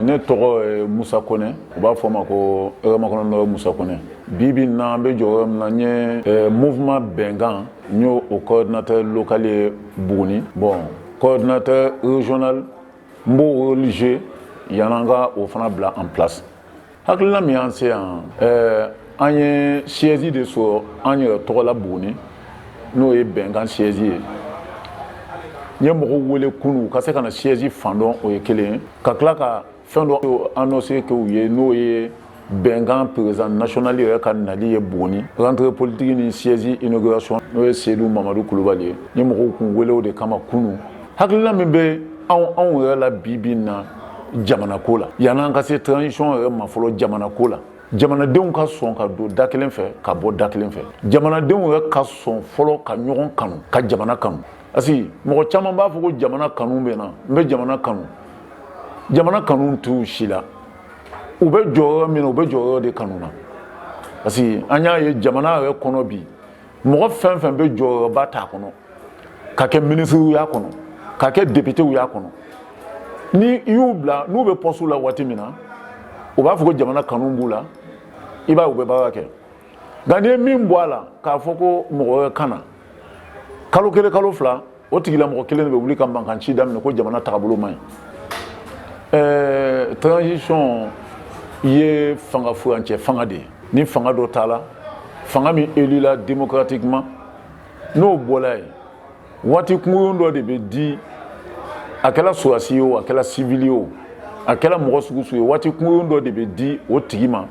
Ne tɔgɔ musa kɔnɛ u b'a fɔ ma ko ema musa kɔnɛ bi bɛ na an bɛ jɔ min na n ye munma bɛnkan n y'o o kɔɔritɛ lkale ye bugun bɔn kɔɔritɛ zona n b'o ze yanananga o fana bila an filasi hakilila min an se yan ɛɛ an ye siège de sɔrɔ an yɛrɛ tɔgɔ la buguni n'o ye bɛnkan siège ye n ye mɔgɔw wele kunu ka se ka na siège fan dɔn o ye kelen ye ka tila ka fɛn dɔ annonce kɛ u ye n'o ye bɛnkan président national yɛrɛ ka nali ye buguni rentrée politique ni siège inauguration n'o ye seyidu mamadu kulubali ye n ye mɔgɔw kun wele o de kama kunu hakilina min bɛ anw anw yɛrɛ la bi bi na jamanako la yann'an ka se transition yɛrɛ ma fɔlɔ jamanako la jamanadenw ka sɔn ka don da kelen fɛ ka bɔ da kelen fɛ jamanadenw yɛrɛ ka sɔn fɔlɔ ka ɲɔgɔn kanu ka jamana kanu parce que mɔgɔ caman b'a fɔ ko jamana kanu bɛ n na n bɛ jamana kanu jamana kanu t'u si la u bɛ jɔyɔrɔ min na u bɛ jɔyɔrɔ de kanu na parce que an y'a ye jamana yɛrɛ kɔnɔ bi mɔgɔ fɛn fɛn bɛ jɔyɔrɔba t'a kɔnɔ ka kɛ minisiri y'a kɔnɔ ka kɛ depitew y'a kɔnɔ ni i y'u bila n'u bɛ pɔsiw la waati min na u b'a fɔ ko jamana kanu b'u la i b'a ye u bɛ baara kɛ nka n'i ye min bɔ a la k'a fɔ ko mɔgɔ wɛrɛ ka na kalo kelen kalo fila o tigilamɔgɔ kelen de bɛ wuli ka mankan ci daminɛ ko jamana tagabolo man ɲi ɛɛ transition ye fanga furancɛ fanga de ye ni fanga dɔ taala fanga min elila démocratiquement n'o bɔla yen waati kunkurun dɔ de bɛ di a kɛla sɔrɔdasi ye o a kɛla sivili ye o a kɛla mɔgɔ sugu sugu ye waati kunkurun dɔ de bɛ di o tigi ma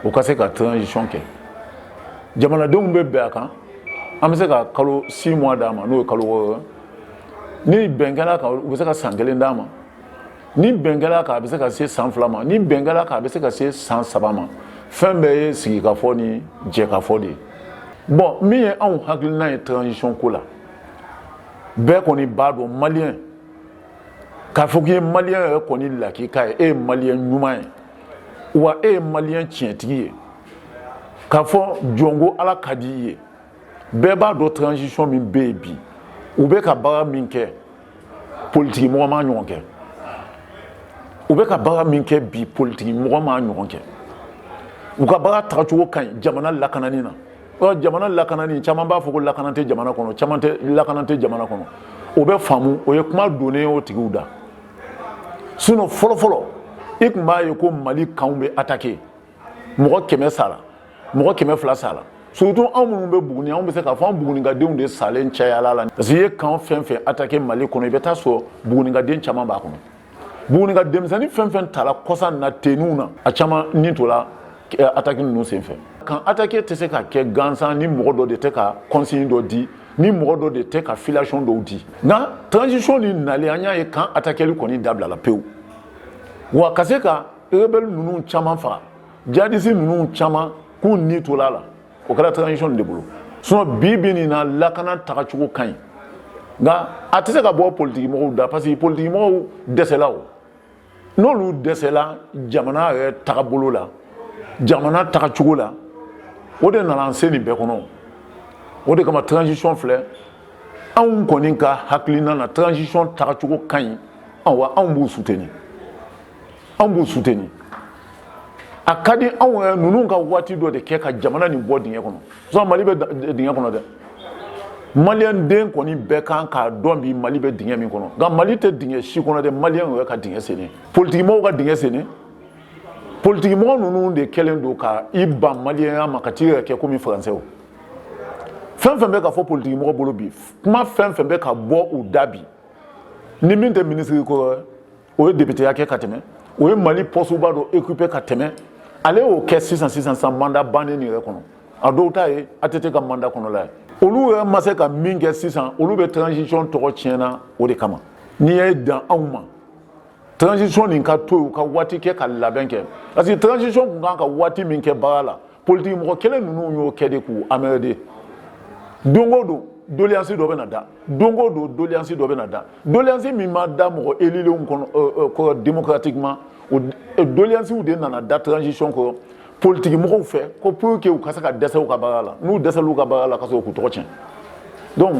o ka se ka transition kɛ jamanadenw bɛ bɛn a kan an bɛ se ka kalo six mois d'a ma n'o ye kalo wɔɔrɔ ni bɛn kɛl'a kan u bɛ se ka san kelen d'a ma ni bɛn kɛl'a kan a bɛ se ka se san fila ma ni bɛn kɛl'a kan a bɛ se ka se san saba ma fɛn bɛɛ ye sigikafɔ ni jɛkafɔ de ye bɔn min ye anw hakilina ye transition ko la bɛɛ kɔni b'a dɔn maliyɛn k'a fɔ k'i ye maliyɛn yɛrɛ kɔni lakika ye e ye maliyɛn ɲuman ye wa e ye maliyɛn tiɲɛtigi ye k'a fɔ jɔn ko ala ka di i ye bɛɛ b'a dɔn transition min bɛ yen bi u bɛ ka baara min kɛ politiki mɔgɔ m'a ɲɔgɔn kɛ u bɛ ka baara min kɛ bi politiki mɔgɔ m'a ɲɔgɔn kɛ u ka baara tagacogo ka ɲi jamana lakanani na ɔ jamana lakanani caman b'a fɔ ko lakana tɛ jamana kɔnɔ caman tɛ lakana tɛ jamana kɔnɔ o bɛ faamu o ye kuma donnen o tigiw da sinon fɔlɔfɔlɔ i tun b'a ye ko mali kanw bɛ attaquer mɔgɔ kɛmɛ sara mɔgɔ kɛmɛ fila sara surtout anw minnu bɛ buguni anw bɛ se k'a fɔ an bugunikadenw de salen cayala la parce que i ye kan fɛn fɛn atake mali kɔnɔ i bɛ taa sɔrɔ bugunikaden caman b'a kɔnɔ bugunika denmisɛnnin fɛn fɛn tala kɔsa na teninw na a caman ni tola eh, atake ninnu sen fɛ kan atake tɛ se ka kɛ gansan ni mɔgɔ dɔ de tɛ ka consigne dɔ di ni mɔgɔ dɔ de tɛ ka filiation dɔw di nka transition ni nalen an y'a ye kan atakeli kɔni dabilala pewu wa ka se ka rebelle ninnu caman faga jihadiste ninnu caman k'u ni tola la o kɛra transition de bolo sinon bi bi nin na lakana tagacogo ka ɲi nka a tɛ se ka bɔ politikimɔgɔw da parce que politikimɔgɔw dɛsɛla o n'olu dɛsɛla jamana yɛrɛ tagabolo la jamana tagacogo la o de nana an se nin bɛɛ kɔnɔ o de kama transition filɛ anw kɔni ka hakilina na transition tagacogo ka ɲi awa anw b'u soutenir an b'u suteni a ka di anw yɛrɛ ninnu ka waati dɔ de kɛ ka jamana nin bɔ dingɛ kɔnɔ sisan mali bɛ dingɛ kɔnɔ dɛ maliyɛn den kɔni bɛɛ kan k'a dɔn bi mali bɛ dingɛ min kɔnɔ nka mali tɛ dingɛ si kɔnɔ dɛ maliyɛn yɛrɛ ka dingɛ senni politikimɔgɔw ka dingɛ senni politikimɔgɔ ninnu de kɛlen don ka i ban maliyɛnya ma ka t'i yɛrɛ kɛ komi faransɛw fɛn fɛn bɛ ka fɔ politikimɔgɔ bolo bi kuma fɛn fɛn bɛ ka bɔ u da bi ni min tɛ minisiri kɔrɔ o ye depiteya kɛ ka tɛmɛ o ye mali pɔsuba dɔ okipe ka tɛmɛ ale y'o kɛ sisan sisan san manda bannen nin yɛrɛ kɔnɔ a dɔw ta ye ATT ka manda kɔnɔla ye olu yɛrɛ ma se ka min kɛ sisan olu bɛ transisɔn tɔgɔ tiɲɛna o de kama n'i ye dan anw ma transisɔn nin ka to yen u ka waati kɛ ka labɛn kɛ parce que transisɔn tun kan ka waati min kɛ baara la politigi mɔgɔ kelen ninnu y'o kɛ de k'u emmerder don o don doleyansi dɔ bɛ na da don o don doleyansi dɔ bɛ na da doleyansi min ma da mɔgɔ elilenw kɔnɔ euh, euh, kɔrɔ démocratiquement o euh, doleyansiw de nana da transition kɔrɔ politigi mɔgɔw fɛ ko pour que u ka se ka dɛsɛ u ka baara la n'u dɛsɛl'u ka baara la ka sɔrɔ k'u tɔgɔ tiɲɛ donc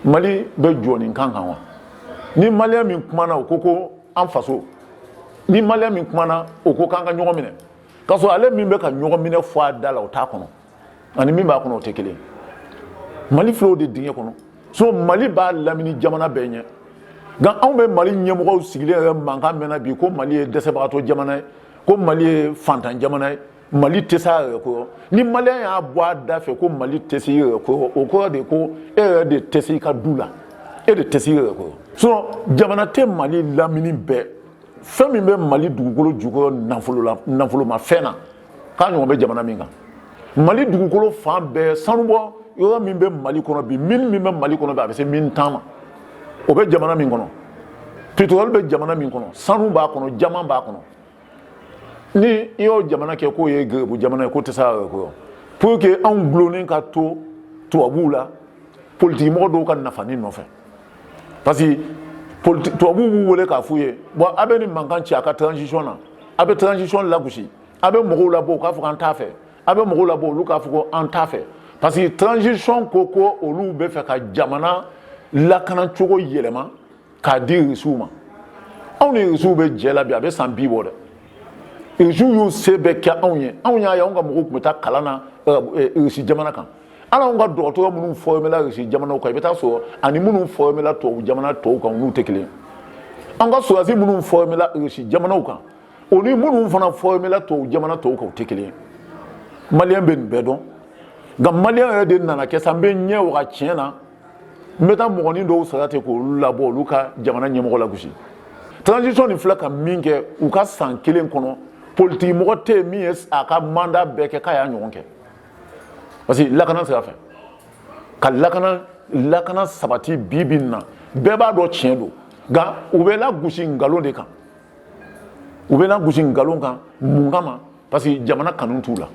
mali bɛ jɔ nin kan kan wa ni maliyɛn min kumana o ko ko an faso ni maliyɛn min kumana o ko k'an ka ɲɔgɔn minɛ k'a sɔrɔ ale min bɛ ka ɲɔgɔn minɛ fɔ a da la o t'a kɔnɔ ani min b'a kɔnɔ o tɛ kelen mali filɛ o de dingɛ kɔnɔ sinon mali b'a lamini jamana bɛɛ ɲɛ nka anw bɛ mali ɲɛmɔgɔw sigilen yɛrɛ mankan mɛnna bi ko mali ye dɛsɛbagatɔ jamana ye ko mali ye fantan jamana ye mali tɛ se a yɛrɛ kɔrɔ ni maliyɛn y'a bɔ a da fɛ ko mali tɛ se i yɛrɛ kɔrɔ o kɔrɔ de ko e yɛrɛ de tɛ se i ka du la e de tɛ se i yɛrɛ kɔrɔ sinon jamana tɛ mali lamini bɛɛ fɛn min bɛ mali dugukolo jukɔrɔ nafolo la nafolomafɛn na k'a ɲɔgɔn bɛ jamana min kan mali dugukolo fan bɛɛ sanubɔ yɔrɔ min bɛ mali kɔnɔ bi mine min bɛ mali kɔnɔ bi a bɛ se mine tan ma o bɛ jamana min kɔnɔ pétrole bɛ jamana min kɔnɔ sanu b'a kɔnɔ jama b'a kɔnɔ ni i y'o jamana kɛ k'o ye garibu jamana ye k'o tɛ se a yɛrɛ kɔrɔ pour que anw gulonnen ka to tubabuw la politikimɔgɔ dɔw ka nafani nɔfɛ parce que politi tubabuw b'u wele k'a f'u ye bon a bɛ nin mankan ci a ka transition na a bɛ transition lagosi a bɛ mɔgɔw labɔ u k'a fɔ k'an t'a fɛ a bɛ mɔgɔw labɔ olu k'a fɔ ko an t'a fɛ parce que transition ko ko olu bɛ fɛ ka jamana lakana cogo yɛlɛma k'a di irisiw ma anw ni irisiw bɛ jɛ la bi a bɛ san bi bɔ dɛ irisiw y'u se bɛɛ kɛ anw ye anw y'a ye anw ka mɔgɔw tun bɛ taa kalan na irisi jamana kan hali an ka dɔgɔtɔrɔ minnu formé la irisi jamana kan i bɛ taa sɔrɔ ani minnu formé la tubabu jamana tɔw kan n'u tɛ kelen an ka sɔrɔdasi minnu formé la irisi jamana kan o ni minnu fana formé la tubabu jamana tɔw kan tɛ kelen maliyɛn bɛ nin bɛɛ dɔn nka maliyɛn yɛrɛ de nana kɛ sa n bɛ ɲɛ waga tiɲɛ na n bɛ taa mɔgɔnin dɔw sara ten k'olu labɔ olu ka jamana ɲɛmɔgɔ lagosi transition nin filɛ ka min kɛ u ka san kelen kɔnɔ politikimɔgɔ tɛ yen min ye a ka manda bɛɛ kɛ k'a y'a ɲɔgɔn kɛ parce que lakana sira fɛ ka lakana lakana sabati bi bi in na bɛɛ b'a dɔn tiɲɛ don nka u bɛ lagosi nkalon de kan u bɛ lagosi nkalon kan mun kama parce que jamana kanu t'u la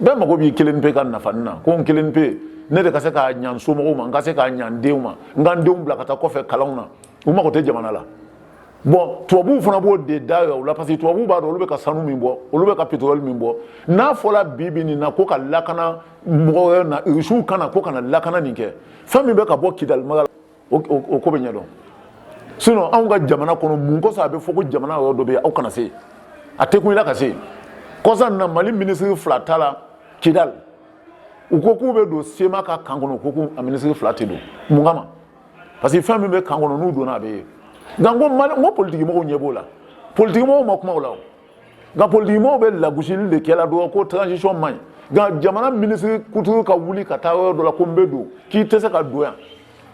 bɛɛ mago b'i kelen pe ka nafani na ko n kelen pe ne de ka se k'a ɲa n somɔgɔw ma n ka se k'a ɲa n denw ma n ka n denw bila ka taa kɔfɛ kalanw na u mago tɛ jamana la bon tubabuw fana b'o de da o la parce que tubabuw b'a dɔn olu bɛ ka sanu min bɔ olu bɛ ka pétrole min bɔ n'a fɔra bi bi nin na ko ka lakana mɔgɔ wɛrɛ na irisiw ka na k'u ka na lakana nin kɛ fɛn min bɛ ka bɔ kidali mara la o ko bɛ ɲɛdɔn sinon anw ka jamana kɔnɔ mun kosɔn a bɛ fɔ ko jamana yɔrɔ dɔ bɛ yen aw kana se yen a tɛ kun i la ka se yen kɔsa nin na mali minisiri fila taala kidali u ko k'u bɛ don sema ka kan kɔnɔ u ko k'u a minisiri fila tɛ don mun kama parce que fɛn min bɛ kan kɔnɔ n'u donna a bɛ ye nka n ko mali n ko politikimɔgɔw ɲɛ b'o la politikimɔgɔw ma kuma o la o nka politikimɔgɔw bɛ lagosili de kɛ la dɔrɔn ko transition man ɲi nka jamana minisiri kuturu ka wuli ka taa yɔrɔ dɔ la ko n bɛ don k'i tɛ se ka don yan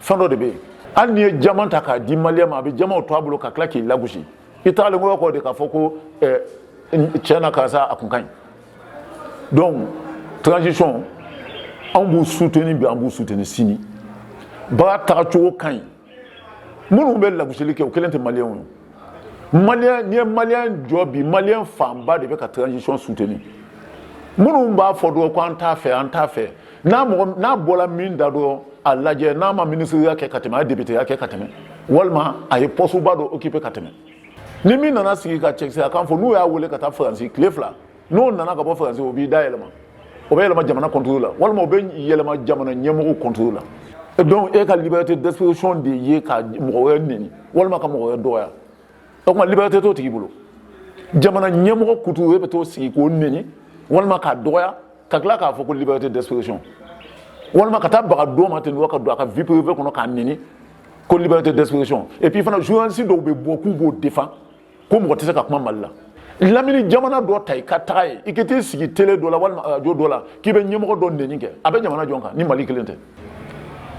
fɛn dɔ de bɛ yen hali n'i ye jama ta k'a di maliyɛn ma a bɛ jamaw to a bolo ka tila k'i lagosi i tagalen kɔrɔ kɔ de k'a fɔ ko tiɲɛ na karisa a kun ka ɲi donc transition an b'u suteni bi an b'u suteni sini baara tagacogo ka ɲi minnu bɛ lagosili kɛ o kelen tɛ maliyɛnw ye maliyɛn n'i ye maliyɛn jɔ bi maliyɛn fanba de bɛ ka transition suteni minnu b'a fɔ dɔrɔn ko an t'a fɛ an t'a fɛ n'a mɔgɔ n'a bɔra min da dɔrɔn a lajɛ n'a ma minisiriya kɛ ka tɛmɛ a ye depiteya kɛ ka tɛmɛ walima a ye pɔsuba dɔ okipe ka tɛmɛ ni min nana sigi ka cɛkisɛya kan fɔ n'u y'a wele ka taa faransi tile fila n'o nana ka bɔ faransi o b'i da yɛlɛma o bɛ yɛlɛma jamana contre la walima o bɛ yɛlɛma jamana ɲɛmɔgɔw contre la donc e ka liberté d'expression de ye ka mɔgɔ wɛrɛ neni walima ka mɔgɔ wɛrɛ dɔgɔya o tuma liberté t'o tigi bolo jamana ɲɛmɔgɔ kuturu e bɛ t'i sigi k'o neni walima k'a dɔgɔya ka tila k'a fɔ ko liberté d'expression walima ka taa baga dɔ ma ten ka don a ka vie privée kɔnɔ k'a neni ko liberté d'expression et puis fana journaliste dɔw bɛ bɔ k'u b'o défend ko mɔgɔ tɛ se ka kuma mali la lamini jamana dɔ ta i ka taga yen i ka t'i sigi tele dɔ la walima arajo dɔ la k'i bɛ ɲɛmɔgɔ dɔ neni kɛ a bɛ jamana jɔn kan ni mali kelen tɛ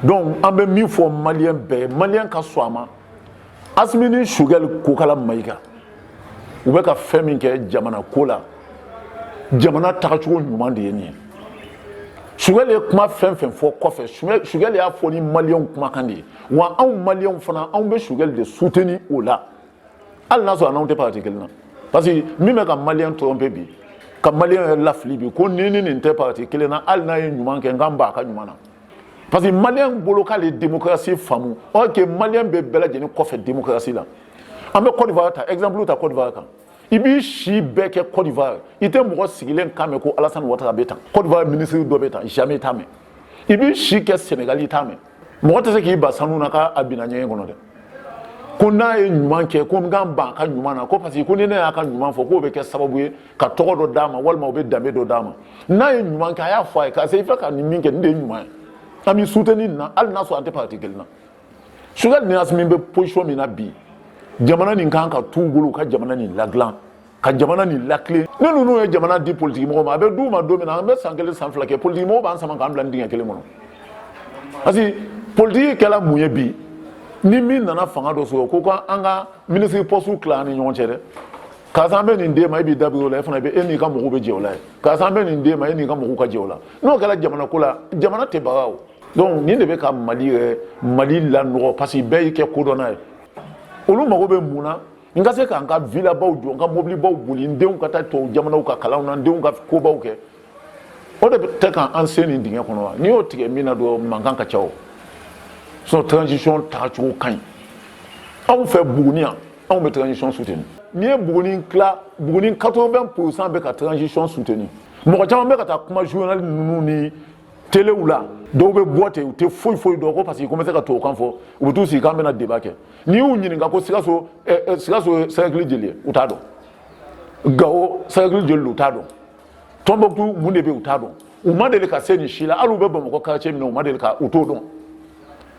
donc an bɛ min fɔ maliyɛn bɛɛ ye maliyɛn ka sɔn a ma Assimi ni Choguel Kokalla Maïga u bɛ ka fɛn min kɛ jamana ko la jamana tagacogo ɲuman de ye nin ye Choguel ye kuma fɛn fɛn fɔ kɔfɛ Choguel y'a fɔ ni maliyɛnw kumakan de ye wa anw maliyɛnw fana anw bɛ Choguel de soutenir o la hali n'a sɔrɔ an n'a tɛ parti kelen na parce que min bɛ ka maliyɛn tromper bi ka maliyɛn yɛrɛ lafili bi ko n ni nin tɛ parti kelen na hali n'a ye ɲuman kɛ n ka ban a ka ɲuman na parce que maliyɛn bolo k'ale démocratie faamu or que maliyɛn bɛ bɛɛ lajɛlen kɔfɛ démocratie la an bɛ Côte d'Ivoire ta exemple ta Côte d'Ivoire kan i b'i si bɛɛ kɛ Côte d'Ivoire i tɛ mɔgɔ sigilen kan mɛn ko Alassane Ouattara bɛ tan Côte d'Ivoire ministre dɔ bɛ tan jamais i t'a mɛn i b'i si kɛ Sénégal i t'a mɛn mɔgɔ tɛ se k'i ban sanu na k'a binna ɲɛgɛn kɔnɔ dɛ ko n'a ye ɲuman kɛ ko n ka ban a ka ɲuman na ko parce que ko ni ne y'a ka ɲuman fɔ k'o bɛ kɛ sababu ye ka tɔgɔ dɔ d'a ma walima o bɛ danbe dɔ d'a ma n'a ye ɲuman kɛ a y'a fɔ a ye karisa i filɛ ka nin min kɛ nin de ye ɲuman ye an b'i soutenir nin na hali n'a sɔrɔ an tɛ parti kelen na Choguel ni Assimi bɛ position min na bi jamana nin kan k'a t'u bolo u ka jamana nin ladilan ka jamana nin latilen ni ninnu ye jamana di politiki mɔgɔw ma a bɛ d'u ma don min na an bɛ san kelen san fila kɛ politiki mɔgɔw b'an sama k'an bila nin dingɛ kelen kɔnɔ parce que politiki kɛla mun ye bi ni min nana fanga dɔ sɔrɔ ko ko an ka minisiri pɔsiw tila an ni ɲɔgɔn cɛ dɛ karisa an bɛ nin d'e ma e b'i da biri o la e fana bɛ e n'i ka mɔgɔw bɛ jɛ o la ye karisa an bɛ nin d'e ma e n'i ka mɔgɔw ka jɛ o la n'o kɛra jamana ko la jamana tɛ baga o donc nin de bɛ ka mali yɛrɛ mali lanɔgɔ parce que bɛɛ y'i kɛ kodɔnna ye olu mago bɛ mun na n ka se ka n ka villabaw jɔ n ka mobilibaw boli n denw ka taa tubabu jamanaw ka kalanw na n denw ka kobaw kɛ o de bɛ tɛ ka an sen nin dingɛ kɔnɔ wa n'i y'o tigɛ min na dɔrɔn mankan ka ca o sinon transition taacogo ka ɲi anw fɛ buguni yan anw bɛ transition soutenir n'i ye buguni tila buguni 80 pourcent bɛ ka transition soutenir mɔgɔ caman bɛ ka taa kuma journal ninnu ni telew la dɔw bɛ bɔ ten u tɛ foyi foyi dɔn ko parce que ko n bɛ se ka tubabukan fɔ u bɛ t'u sigi k'an bɛna débat kɛ n'i y'u ɲininka ko sikaso sikaso ye cercle jeli ye u t'a dɔn gawo cercle jeli don u t'a dɔn tombouctou mun de bɛ u t'a dɔn u ma deli ka se nin si la hali u bɛ bamakɔ quartier min na u ma deli ka u t'o dɔn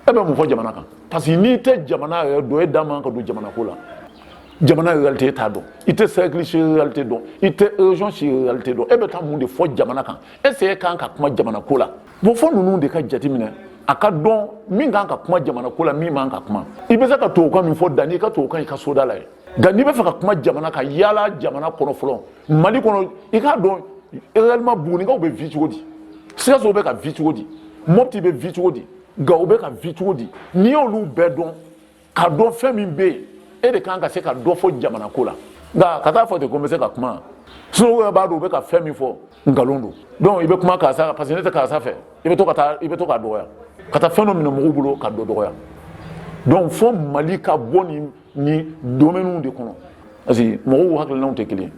e bɛ mun fɔ jamana kan parce que n'i tɛ jamana yɛrɛ dɔn e da man ka don jamana ko la jamana réalité e t'a dɔn i tɛ cercle si réalité dɔn i tɛ région si réalité dɔn e bɛ taa mun de fɔ jamana kan est ce que e kan ka kuma jamana ko la bon fɔ ninnu de ka jateminɛ a ka dɔn min kan ka kuma jamana ko la min man ka kuma i bɛ se ka tubabukan min fɔ dan n'i ka tubabukan i ka soda la ye nka n'i bɛ fɛ ka kuma jamana kan yaala jamana kɔnɔ fɔlɔ mali kɔnɔ i k'a dɔn réellement bugunikaw bɛ vie cogo di sikaso bɛ ka vie cogo di mopti bɛ vie cogo di gawo bɛ ka vie cogo di n'i y'olu bɛɛ dɔn ka dɔn fɛn min bɛ yen e de kan ka se ka dɔ fɔ jamana ko la nka ka taa fɔ ten ko n bɛ se ka kuma sinon u yɛrɛ b'a dɔn u bɛ ka fɛn min fɔ nkalon don donc i bɛ kuma karisa parce que ne tɛ karisa fɛ i bɛ to ka taa i bɛ to k'a dɔgɔya ka taa fɛn dɔ minɛ mɔgɔw bolo ka dɔ dɔgɔya donc fɔ mali ka bɔ nin nin domaine de kɔnɔ parce que mɔgɔw hakilinaw tɛ kelen ye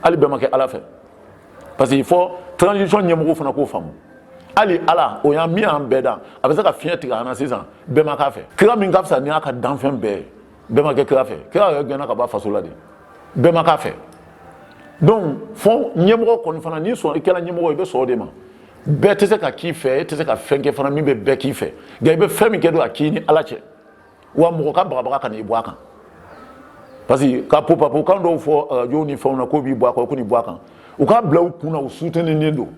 hali bɛɛ ma kɛ ala fɛ parce que fɔ transition ɲɛmɔgɔ fana k'o faamu hali ala o y'an min y'an bɛɛ dan a bɛ se ka fiɲɛ tigɛ an na sisan bɛɛ ma k'a fɛ kira min ka fisa ni y'a ka danfɛn bɛɛ ye bɛɛ ma kɛ kira fɛ kira yɛrɛ gɛnna ka bɔ a faso la de bɛɛ ma k'a fɛ donc fɔ ɲɛmɔgɔ kɔni fana n'i sɔn i kɛra ɲɛmɔgɔ i bɛ sɔn o de ma bɛɛ tɛ se ka k'i fɛ e tɛ se ka fɛn kɛ fana min bɛ bɛɛ k'i fɛ nka i bɛ fɛn min kɛ don a k'i ni ala cɛ wa mɔgɔ ka bagabaga kana i bɔ a kan parce que ka popapokan dɔw fɔ arajow ni fɛnw na k'o b'i bɔ a kan ko n'i bɔ a kan u k'a bila u kun na u suteninen don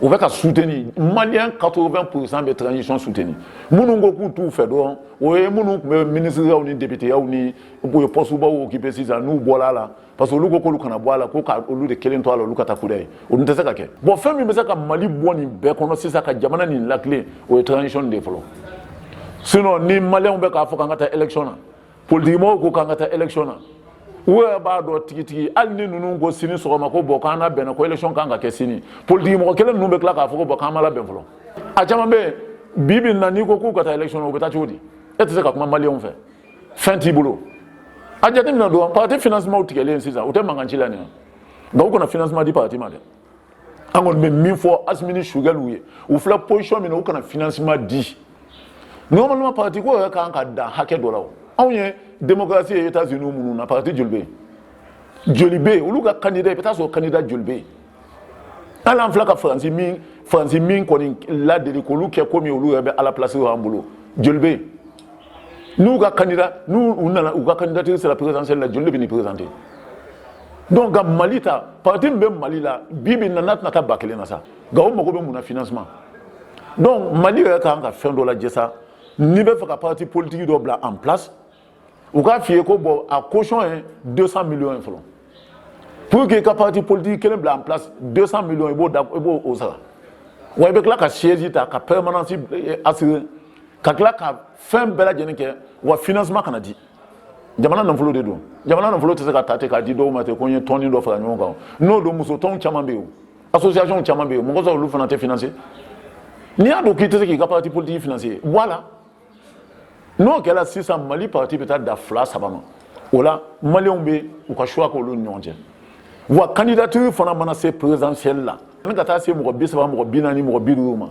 u bɛ ka suteni maliyɛn 80 pourcent bɛ transition suteni minnu ko k'u t'u fɛ dɔrɔn o ye minnu tun bɛ minisiriyaw ni depiteyaw ni u ye pɔsubaw okipe sisan n'u bɔra a la parce que olu ko k'olu kana bɔ a la ko ka olu de kelen to a la olu ka taa kudayi o dun tɛ se ka kɛ bon fɛn min bɛ se ka mali bɔ nin bɛɛ kɔnɔ sisan ka jamana nin latilen o ye transition de ye fɔlɔ sinon ni maliyɛnw bɛ k'a fɔ k'an ka taa élection na politikimɔgɔw ko k'an ka taa élection na u yɛrɛ b'a dɔn tigitigi hali ni ninnu ko sini sɔgɔma ko bon k'an labɛnna ko élection kan ka kɛ sini politikimɔgɔ kelen ninnu bɛ tila k'a fɔ ko bon k'an ma labɛn fɔlɔ a caman bɛ yen bi bi in na n'i ko k'u ka taa élection na u bɛ taa cogo di e tɛ se ka kuma maliyɛnw fɛ fɛn t'i bolo a jateminɛ dɔrɔn parti financement tigɛlen sisan u tɛ mankan ci la nin nka u kana financement di parti ma dɛ an kɔni bɛ min fɔ asimi ni choguel ye u filɛ position min na u kana financement di normalement parti ko yɛrɛ kan ka dan hakɛ dɔ la o anw ye démocratie ye états unis minnu na parti joli bɛ yen joli bɛ yen olu ka candidat i bɛ taa sɔrɔ candidat joli bɛ yen hali an filɛ ka faransi min faransi min kɔni ladege k'olu kɛ komi olu yɛrɛ bɛ ala place an bolo joli bɛ yen n'u ka candidat n'u nana u ka candidature sera présidentielle la joli de bɛ nin présenter donc nka mali ta parti min bɛ mali la bi bi in na n'a tɛna taa ba kelen na sa nka o mago bɛ mun na financement donc mali yɛrɛ ka kan ka fɛn dɔ lajɛ sa n'i bɛ fɛ ka parti politique dɔ bila en place u k'a f'i ye ko bon a caution ye 200 millions ye fɔlɔ pour que i ka parti politique kelen bila en place 200 millions i b'o da i b'o o sara wa i bɛ tila ka siège ta ka permanence eh, assurer ka tila ka fɛn bɛɛ lajɛlen kɛ wa financement kana di jamana nafolo de don jamana nafolo tɛ se ka ta ten k'a di dɔw ma ten ko n ye tɔnnin dɔ fara ɲɔgɔn kan n'o don muso tɔnw caman bɛ yen association caman bɛ yen mun kosɔn olu fana tɛ financer n'i y'a dɔn k'i tɛ se k'i ka parti politique financer bɔ a la n'o kɛra sisan mali parti bɛ taa da fila saba ma o la maliyɛnw bɛ u ka choix k'olu ni ɲɔgɔn cɛ wa candidature fana mana se présidentielle la yani ka taa se mɔgɔ bi saba mɔgɔ bi naani mɔgɔ bi duuru ma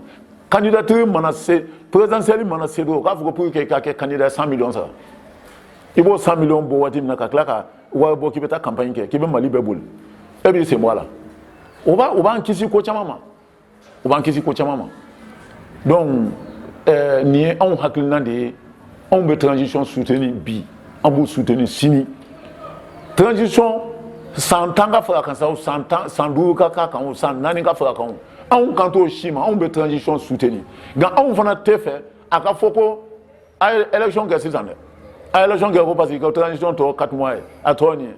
candidature mana se présidentielle mana se don u k'a fɔ ko pour que i ka kɛ candidat cent millions sara i b'o cent millions bɔ waati min na ka tila ka wari bɔ k'i bɛ taa campagne kɛ k'i bɛ mali bɛɛ boli e b'i sen bɔ a la o b'a o b'an kisi ko caman ma o b'an kisi ko caman ma donc ɛɛ nin ye anw hakilina de ye anw bɛ transition soutenir bi an b'u soutenir sini transition san tan ka fara kan sa o san tan san duuru ka k'a kan o san naani ka fara kan o anw kan t'o si ma anw bɛ transition soutenir nka anw fana tɛ fɛ a ka fɔ ko a ye élection kɛ sisan dɛ a ye élection kɛ ko parce que ka transition tɔ quatre mois ye a tɔ nin ye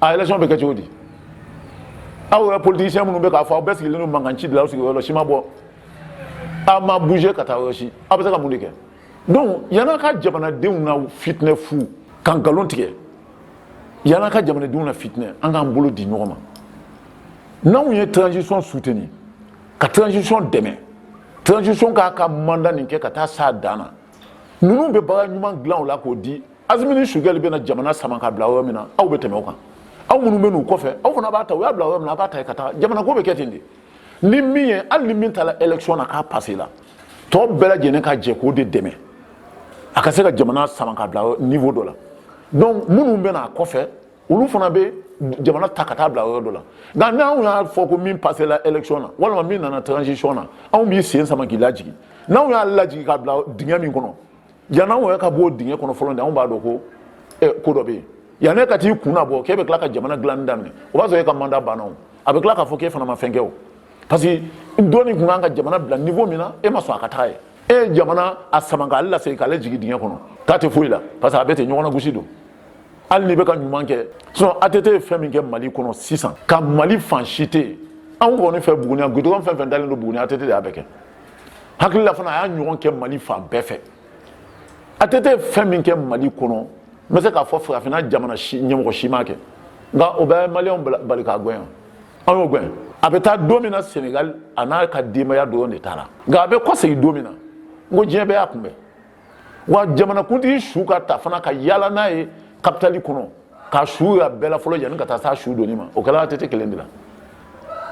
a élection bɛ kɛ cogo di aw yɛrɛ politisiyɛn minnu bɛ k'a fɔ aw bɛɛ sigilen don mankan ci de la aw sigiyɔrɔ si ma bɔ aw ma bouger ka taa yɔrɔ si aw bɛ se ka mun de kɛ donc yann'a ka jamanadenw nafitinɛ fu ka nkalon tigɛ yann'a ka jamanadenw nafitinɛ an k'an bolo di ɲɔgɔn ma n'anw ye transition soutenir ka transition dɛmɛ transition k'a ka mandat nin kɛ ka taa s'a dan na ninnu bɛ baara ɲuman dilan o la k'o di Asimi ni Sogɛli bɛna jamana sama ka bila yɔrɔ min na aw bɛ tɛmɛ o kan aw minnu bɛ n'u kɔfɛ aw fana b'a ta u y'a bila yɔrɔ min na a b'a ta ka taa jamana ko bɛ kɛ ten de ni min ye hali ni min taara élection na k'a passéla tɔ bɛɛ lajɛlen ka jɛ k'o de dɛmɛ a ka se ka jamana sama ka bila niveau dɔ la donc minnu bɛ n'a kɔfɛ olu fana bɛ jamana ta ka taa bila yɔrɔ dɔ la nka n'anw y'a fɔ ko min passéla élection na walima min nana transition na anw b'i sen sama k'i lajigin n'anw y'a lajigin ka bila dingɛ min kɔnɔ yan'anw yɛrɛ ka b'o dingɛ kɔnɔ fɔlɔ de anw b'a dɔn ko eh, ko dɔ bɛ yen yan'e ka t'i kun nabɔ k'e bɛ tila ka jamana dilanni daminɛ o b'a sɔrɔ e ka mandat banna o a bɛ tila k'a fɔ k'e fana ma fɛn kɛ o parce que dɔ nin tun kan ka jamana bila niveau min na e ma sɔn a ka taa yen e ye jamana a sama k'a lasegin k'a lajigin dingɛ kɔnɔ k'a tɛ foyi la parce que a bɛ ten ɲɔgɔn nagosi don hali n'i bɛ ka ɲuman kɛ sinon ATT ye fɛn min kɛ Mali kɔnɔ sisan ka Mali fan si tɛ yen anw kɔni fɛ Buguni yan goudron fɛn fɛn dalen don Buguni ATT de y'a bɛɛ kɛ n hakili la fana a y'a ɲɔgɔn kɛ Mali fan bɛɛ fɛ ATT ye fɛn min kɛ Mali kɔnɔ n bɛ se k'a fɔ farafinna jamana si ɲɛmɔgɔ si m'a kɛ nka o ma maliyɛnw bali k'a gɛn an y'o gɛn a bɛ taa don min na Senegal a n'a ka denbaya dɔrɔn de taara nka a bɛ kɔsegin don min na n ko diɲɛ bɛɛ y'a kunbɛn wa jamanakuntigi su ka ta fana ka yaala n'a ye kapitali kɔnɔ ka su ya bɛɛ la fɔlɔ yanni ka taa s'a su donni ma o kɛra ATT kelen de la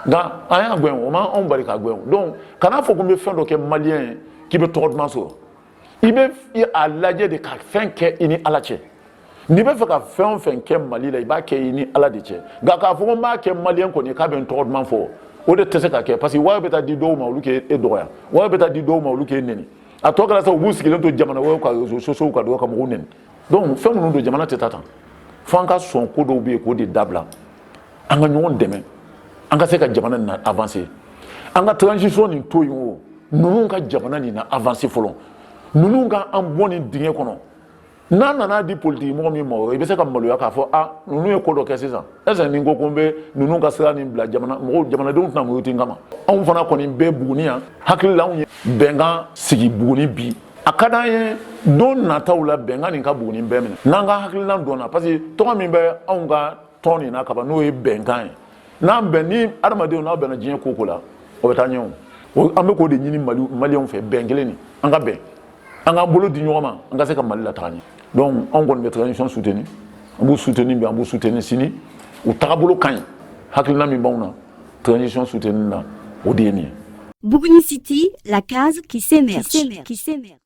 nka an y'a gɛn o ma anw bali k'a gɛn donc kana fɔ ko n bɛ fɛn dɔ kɛ maliyɛn ye k'i bɛ tɔgɔ duman sɔrɔ i bɛ a lajɛ de ka fɛn kɛ i ni ala cɛ n'i bɛ fɛ ka fɛn o fɛn kɛ mali la i b'a kɛ i ni ala de cɛ nka k'a fɔ ko n b'a kɛ maliyɛn kɔni k'a bɛ n tɔgɔ duman fɔ o de tɛ se ka kɛ parce que wari bɛ taa di dɔw ma olu k'e dɔgɔya wari bɛ taa di dɔw ma olu k'e neni a tɔ kɛra sa u b'u sigilen to jamana wɛrɛw ka réseaux sociaux kan dɔrɔn ka mɔgɔw neni donc fɛn minnu don jamana tɛ taa tan fo an ka sɔn ko dɔw bɛ yen k'o de dabila an ka ɲɔgɔn dɛmɛ an ka se ka jamana nin na avancer an ka transition nin to yen o ninnu ka jamana nin na avancer fɔlɔ ninnu ka an bɔ nin dingɛ kɔnɔ n'a nana di politigi mɔgɔ min ma i bɛ se ka maloya k'a fɔ a ninnu ye ko dɔ kɛ sisan est-ce ni n ko ko n bɛ ninnu ka sira nin bila mɔgɔw jamanadenw tɛna muruti n kama anw fana kɔni bɛ buguni yan hakili la anw ye bɛnkan sigi buguni bi a ka d'an ye don nataw la bɛnkan nin ka buguni bɛɛ minɛ n'an ka hakilina dɔnna parce que tɔgɔ min bɛ anw ka tɔn nin na kaban n'o ye bɛnkan ye n'an bɛn ni adamadenw n'aw bɛnna diɲɛ ko o ko la o bɛ taa ɲɛ o an bɛ k'o de ɲini maliyɛnw fɛ bɛn kelen nin an ka bɛn an k'an bolo di ɲɔgɔn ma an ka se ka mali lataga ɲɛ donc anw kɔni bɛ transition soutenu an b'u soutenu bi an b'u soutenu sini u tagabolo ka ɲi hakilina min b'anw na transition soutenu na o de ye nin ye Buguni City, la case qui s'émerge. Qui s'émerge.